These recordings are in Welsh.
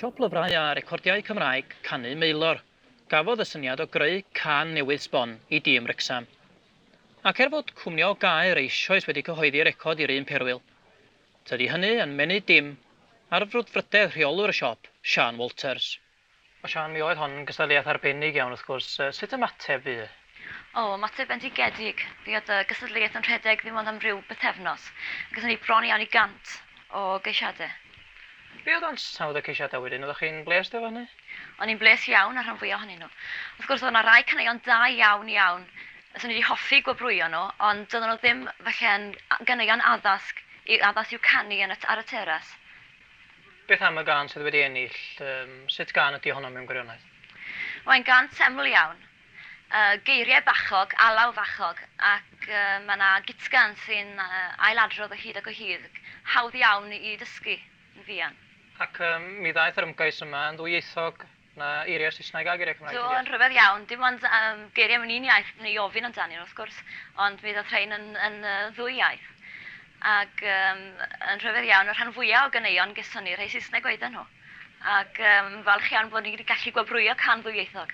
Siop lyfrau a recordiau Cymraeg canu Maelor gafodd y syniad o greu cân newydd sbon i dîm Wrecsam. Ac er fod cwmni o Gaer eisoes wedi cyhoeddi record i'r un perwyl, tydi hynny yn menyw dim ar frwdfrydedd rheolwr y siop, Siân Walters. O Siân, mi oedd hon yn gystadleuaeth arbennig iawn wrth gwrs. Sut ymateb fu? O, ymateb bendigedig. Fe oedd y gystadleuaeth yn rhedeg ddim ond am ryw bythefnos, a gaethon ni bron iawn i 100 o geisiadau. Be oedd ansawdd y ceisiadau wedyn? Oeddech chi'n blês efo hynny? O'n i'n blês iawn â'r rhan fwyaf ohonyn nhw. Wrth gwrs, oedd yna rai caneuon da iawn, iawn, fyswn i wedi hoffi gwobrwyo nhw, ond doedden nhw ddim, falle, yn ganeuon addasg, addas i'w canu yn y, ar y teras. Beth am y gân sydd wedi ennill? Sut gân ydy honno mewn gwirionedd? Mae'n gân teml iawn. Geiriau bachog, alaw fachog ac mae yna gitgan sy'n ailadrodd o hyd ac o hyd. Hawdd iawn i dysgu yn fuan. Ac mi ddaeth yr ymgais yma yn ddwyieithog Mae eiriau'r Saesneg a geiriau Cymraeg ti'n deall? Do, yn rhyfedd iawn. Dim ond yym geiriau mewn un iaith wna i ofyn amdanyn nhw, wrth gwrs, ond mi ddaeth rhein yn yn yy ddwy iaith. Ac yym yn rhyfedd iawn, y rhan fwya' o ganeuon geson ni, rhai Saesneg oedden nhw. Ac yym falch iawn bod ni wedi gallu gwobrwyo can ddwyieithog.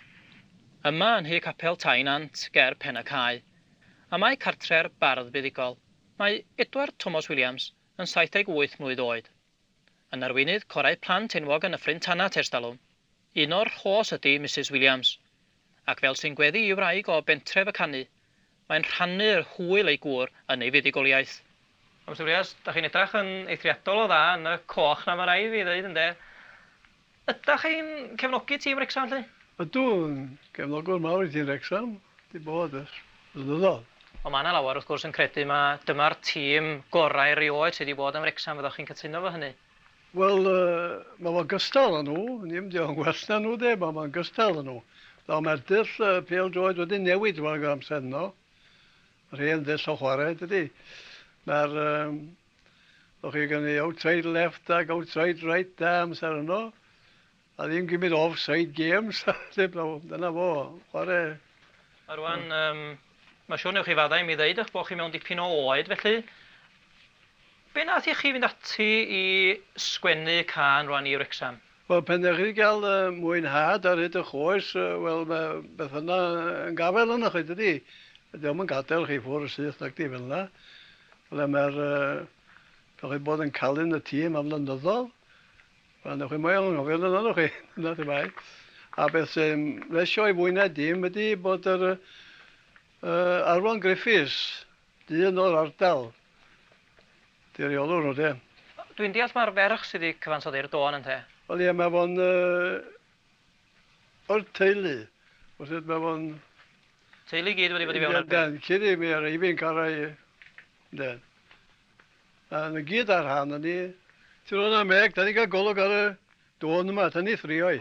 Yma yn nhŷ capel Tŷ Nant ger Pen-y-cae. A mae cartre'r bardd buddugol. Mae Edward Tomos Williams yn 78 mlwydd oed. Yn arweinydd corau plant enwog yn y Ffrind Tanat ers talwm. Un o'r rhos ydy Misus Williams. Ac fel sy'n gweddu i wraig o bentref y canu, mae'n rhannu'r hwyl ei gŵr yn ei fuddugoliaeth. Mister Williams, dach chi'n edrach yn eithriadol o dda yn y coch 'na ma' raid fi ddeud ynde? Ydach chi'n cefnogi tîm Wrecsam felly? Ydw, yn gefnogwr mawr i tîm Wrecsam, 'di bod ers blynyddoedd. Ond mae 'na lawer wrth gwrs yn credu ma' dyma'r tîm gorau erioed sydd 'di bod yn Wrecsam, fyddwch chi'n cytuno efo hynny? Wel, mae fo'n gystal â nhw, dim diolch yn well na nhw 'de, ma' fo'n gystal â nhw. Nawr mae'r dull pêl-droed wedi newid drwag yr amser yno, yr hen ddull o chwarae dydi? Mae'r yym. O'ch chi gynnu outside left ac outside right da amser yno, a ddim gymryd offside games, dim problem, dyna fo, chwarae. A rwan, um, mae siwr newch chi faddau mi ddeud eich bod chi mewn dipyn o oed, felly be nath i chi fynd ati i sgwennu can rwan i Wrexham? Wel, pan dach chi 'di cael y mwynhad ar hyd y'ch oes, wel, mae beth yna yn gafael arnoch chi, dydi? Dydi o'm yn gadael chi ffwr' y syth nacdi, fel yna. Ble mae'r... dach chi bod yn calu'n y tîm am flynyddodd, wel, newch chi moel anghofio amdano, newch chi? Dyna lle mae. A beth sy'n blesio i fwy na dim ydi bod yr Arfon Griffiths Dyn o'r ardal. Di reolwr nhw de. Dwi'n deall mae'r ferch sydd wedi cyfansoddi'r dôn ynte? Wel ie mae fo'n yy o'r teulu wrth gwrs mae fo'n... Teulu i gyd wedi bod i fewn ar y peth? Yndan cyn i mi ar Eifi'n cael ei... Ynde. A na gyd ar rhan yni. Ti'n rhoi hwnna Meg, da ni'n cael golwg ar y dôn yma, ta ni thrio'i.